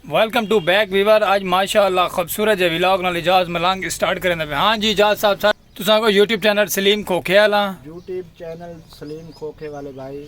Welcome to back viewer اج ماشاء اللہ خوبصورت جی ولاگ نال اجاز ملنگ اسٹارٹ کریں پہ ہاں جی اجاز صاحب صاحب تساں کو یوٹیوب چینل سلیم کھوکھے والا یوٹیوب چینل سلیم کھوکھے والے بھائی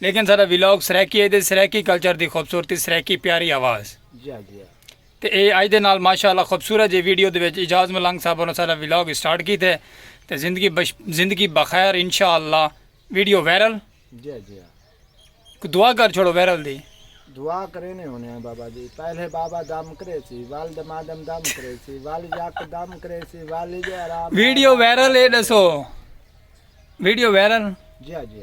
لیکن ساڈا ولاگ سرائیکی ایدے سرائیکی کلچر دی خوبصورتی سرائیکی پیاری آواز تے اے اج دے نال ماشاءاللہ خوبصورت جے ویڈیو دے وچ اجاز ملنگ صاحب ہوراں ساڈا ولاگ سٹارٹ کیتے تے زندگی بش زندگی بخیر انشاءاللہ ویڈیو وائرل دعا کر چھوڑو وائرل دی دعا کرینے ہونے ہیں بابا جی پہلے بابا دم کرے سی والد مادم دم کرے سی والد یک دم کرے سی والد آرام ویڈیو وائرل اے دسو ویڈیو وائرل جی جی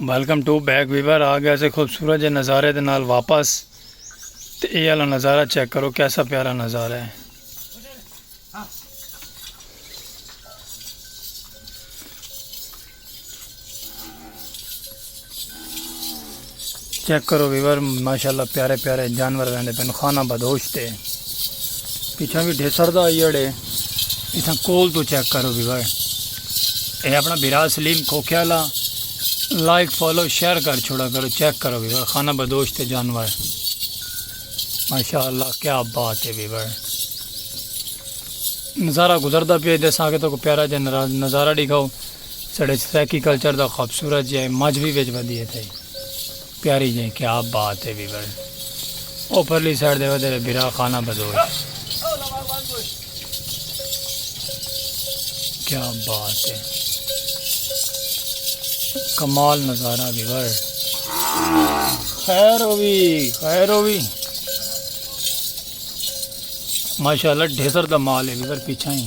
ویلکم ٹو بیک ویور آ گئے سے خوبصورت جے نظارے دے نال واپس تے اے والا نظارہ چیک کرو کیسا پیارا نظارہ ہے چیک کرو ویور ماشاءاللہ پیارے پیارے جانور ویندے پن خانہ بدوش تے پیچھا بھی ڈھیسر دا ایڑے پیچھا کول تو چیک کرو ویور اے اپنا بیرا سلیم کھوکھے والا لائک فالو شیئر کر چھوڑا کرو چیک کرو ویور خانہ بدوش تے جانور ماشاءاللہ کیا بات ہے ویور نظارہ گزردا پہ دے ساکے تو کو پیارا جا نظارہ دکھاؤ ساڑے سرائیکی کلچر دا خوبصورت جئیں مجھ وی وچ ودی ہے تھئی پیاری جئیں کیا بات ہے وی ورن او پرلی سائیڈ دے ودے وے بھرا خانہ بدوش کیا بات ہے کمال نظارہ وی ور خیر ہوئی خیر ہوئی ماشاءاللہ ڈھیسر دا مال ہے وی ور پیچھا ہی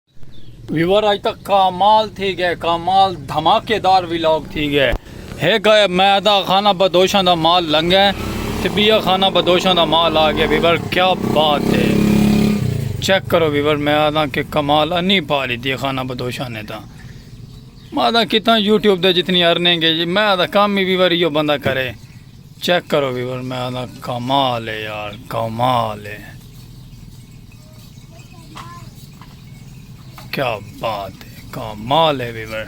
ویور اج تک کامال تھی گئے کامال دھماکے دار ویلاگ تھی گئے ہیک آئے میں دا خانہ بدوشاں دا مال لنگ ہے تے بیا خانہ بدوشاں دا مال آ گیا ویور کیا بات ہے چیک کرو ویور میں آدھا کہ کمال انی پا لی دی خانہ بدوشاں نے دا میں آدھا کتنا یوٹیوب دے جتنی ارنیں گے جی میں آدھا کام ہی ویور یہ بندہ کرے چیک کرو ویور میں آدھا کمال ہے یار کمال ہے کیا بات ہے کمال ہے ویور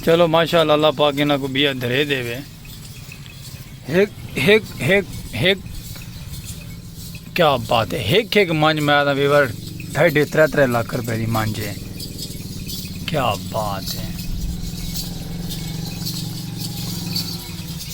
چلو ماشاء اللہ اللہ پاک انہاں کو بیا دھرے دے وے ہک ہک ہک ہک کیا بات ہے ہک ہک مانج میں آدھا ویور ڈھائی ڈھے ترے ترے لاکھ روپے دی مانجے کیا بات ہے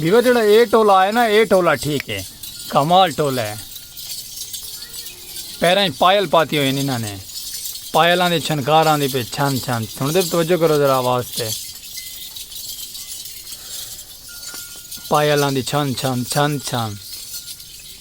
بیوا جڑا اے ٹولا ہے نا اے ٹولا ٹھیک ہے کمال ٹولا ہے پیرا ہی پائل پاتی ہوئی انہاں نے پائل آن دے چھنکار آن دے پہ چھن چھن سن دے توجہ کرو ذرا آواز تے پائل آن دے چھن چھن چھن چھن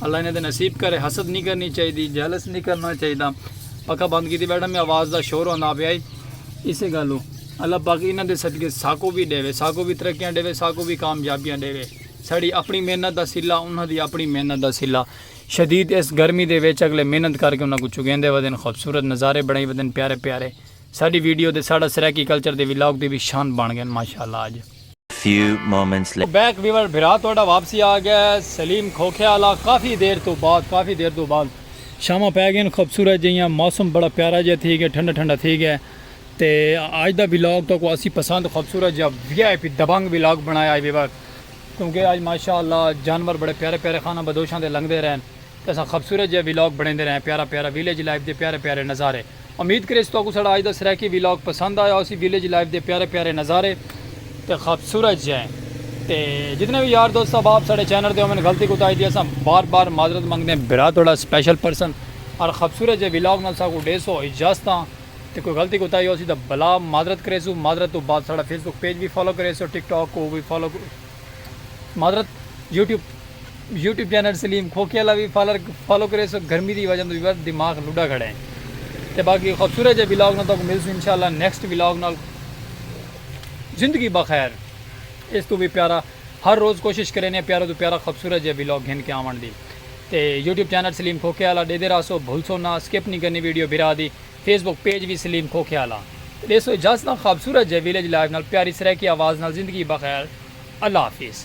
اللہ انہیں دے نصیب کرے حسد نہیں کرنی چاہی دی جیلس نہیں کرنا چاہی دا پکا بند کی دی بیٹھا میں آواز دا شور ہونا پہ آئی اسے گالو اللہ پاک انہیں دے صدقے ساکو بھی دے وے ساکو بھی ترقیاں دے وے ساکو بھی کامیابیاں دے وے ساڑی اپنی محنت دا سلا انہاں دی اپنی محنت دا سلا شدید اس گرمی دے ویچ اگلے محنت کر کے انہاں کو چکین دے ودن خوبصورت نظارے بڑھائی ودن پیارے پیارے ساڑی ویڈیو دے ساڑا سریکی کلچر دے ویلاگ دے بھی شان بان گئن ماشاءاللہ آج few moments later. Back viewer بھرا تہاڈا واپسی آ گیا ہے سلیم کھوکھے آلا کافی دیر توں بعد کافی دیر توں بعد شاماں پے گئین خوبصورت جیہاں موسم بڑا پیارا جیہاں تھی گیا ٹھنڈا ٹھنڈا تھی گیا تے اج دا ولاگ تو کو اسی پسند خوبصورت جیہاں وی آئی پی دبنگ ولاگ بنایا ہے ویور کیونکہ اج ماشاءاللہ جانور بڑے پیارے پیارے خانہ بدوشاں دے لنگدے رہن۔ تے اساں خبصورت جیہا ویلاگ بنڑیندے رہے ہیں پیارا پیارا ویلیج لائف دے پیارے پیارے نظارے امید کریس تہاکوں ساڈا اج دا سرائیکی ویلاگ پسند آیا ہوسی ویلیج لائف دے پیارے پیارے نظارے تے خبصورت جیہے تے جتنے وی یار دوست احباب ساڈے چینل تے ہوون غلطی کوتاہی دی اساں بار بار معذرت منگدے ہیں برا تہاڈا سپیشل پرسن ہر خبصورت جیہے ویلاگ نال ساکوں ڈیسو اجازتاں تے کوئی غلطی کوتاہی ہوسی تاں بھلا معذرت کریسوں معذرت توں بعد ساڈا فیس بک پیج وی فالو کریسو ٹک ٹاک کوں وی فالو معذرت یوٹیوب یوٹیوب چینل سلیم کھوکھے والا بھی فالر فالو کرے سو گرمی دی وجہ تو دماغ لڈا کھڑے ہیں تے باقی خوبصورت جے ولاگ نال تو مل سو انشاءاللہ نیکسٹ ولاگ نال زندگی بخیر اس تو بھی پیارا ہر روز کوشش کرے نے پیارا تو پیارا خوبصورت جے ولاگ گھن کے آون دی تے یوٹیوب چینل سلیم کھوکھے والا دے دے راسو بھول سو نہ سکپ نہیں کرنی ویڈیو بھرا دی فیس بک پیج وی سلیم کھوکھے آلا تے ݙیسو اجازتاں خوابصورت جئے ویلیج لائیو نال پیاری سرائیکی آواز نال زندگی بخیر اللہ حافظ۔